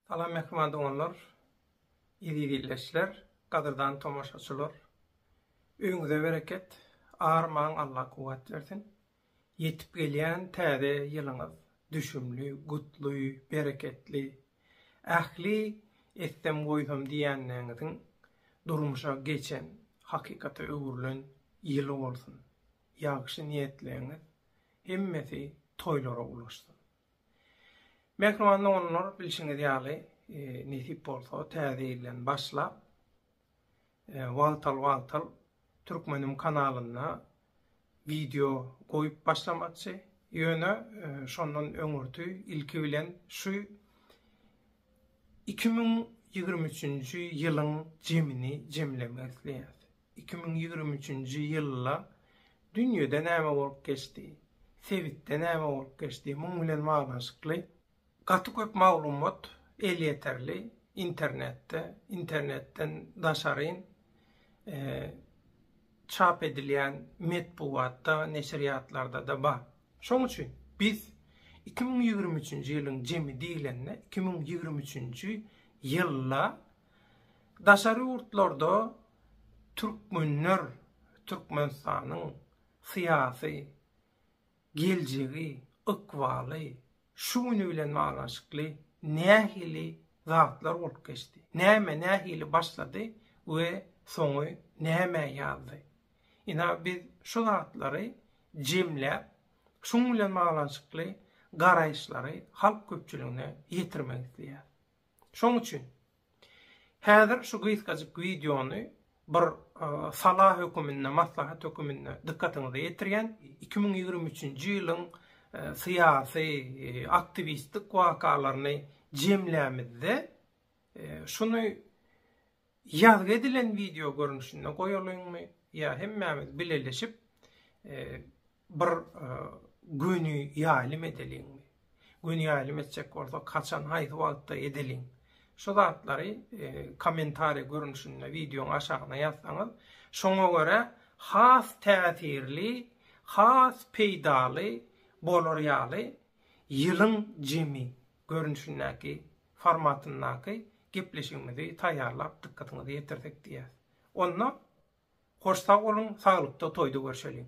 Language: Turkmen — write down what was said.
Salam mähriban doganlar, eziz ildeşler, gadyrdan tomaşaçylar. Öýüňize bereket, armaň Allah kuwwat bersin. Ýetip gelýän täze ýylyňyz düşümli, gutly, bereketli, ähli etsem-goýsam diýänleriňiziň durmuşa geçen, hakykata öwrülen ýyly bolsun. Ýagşy niýetleriňiz hemmesi toýlara ulaşsyn. Mähriban doganlar, bilşiňiz ýaly, nesip bolsa, Täze ýyldan başlap, wagtal-wagtal Türkmenim kanalynda wideo goýup başlamakçy. Ýöne, şondan öňürti, ilki bilen, şu iki müň ýigrimi üçünji ýylyň jemini jemlemek isleýäs. Iki müň ýigrimi üçünji ýylda dünýede näme bolup geçdi, sebitde näme bolup geçdi, muň bilen baglanyşykly gaty köp maglumat elýeterli internetde, internetden daşaryn çap edilýän metbugatda, neşirýatlarda-da bar. Şoň üçin biz iki müň ýigrimi üçünji ýylyň jemi diýlende iki müň ýigrimi üçünji ýylda Daşary ýurtlarda türkmenler Türkmenistanyň syýasy geljegi, ykbaly şu güni bilen baglanyşykly nähili zatlar bolup geçdi? Näme nähili başlady we soňy nämä ýazdy? Ina biz şu zatlary jemläp, şuň bilen baglanyşykly garaýyşlary halk köpçüligine ýetirmek isleýäris. Şoň üçin, häzir şu gysgajyk wideony bir sala höküminde, maslahat höküminde dykgatyňyza ýetirýän. Iki müň ýigrimi üçünji ýylyň syýasy, aktiwistlik wakalaryny jemlämizde, şuny Ýazgy edilen wideo görnüşinde goýalyňmy ýa hemmämiz bileleşip bir göni ýaýlym edeliňmi? Göni ýaýlym etjek bolsak haçan haýsy wagtda edeliň? Şu zatlary kommentariý görnüşinde wideoň aşagyna ýazsaňyz şoňa görä has täsirli has peýdaly bolar ýaly ýylyň jemi görnüşindäki formatyndaky gepleşigimizi taýýarlap dykgatyňyza ýetirsek diýýäs. Onda hoş sag boluň, saglykda toýda görşeliň!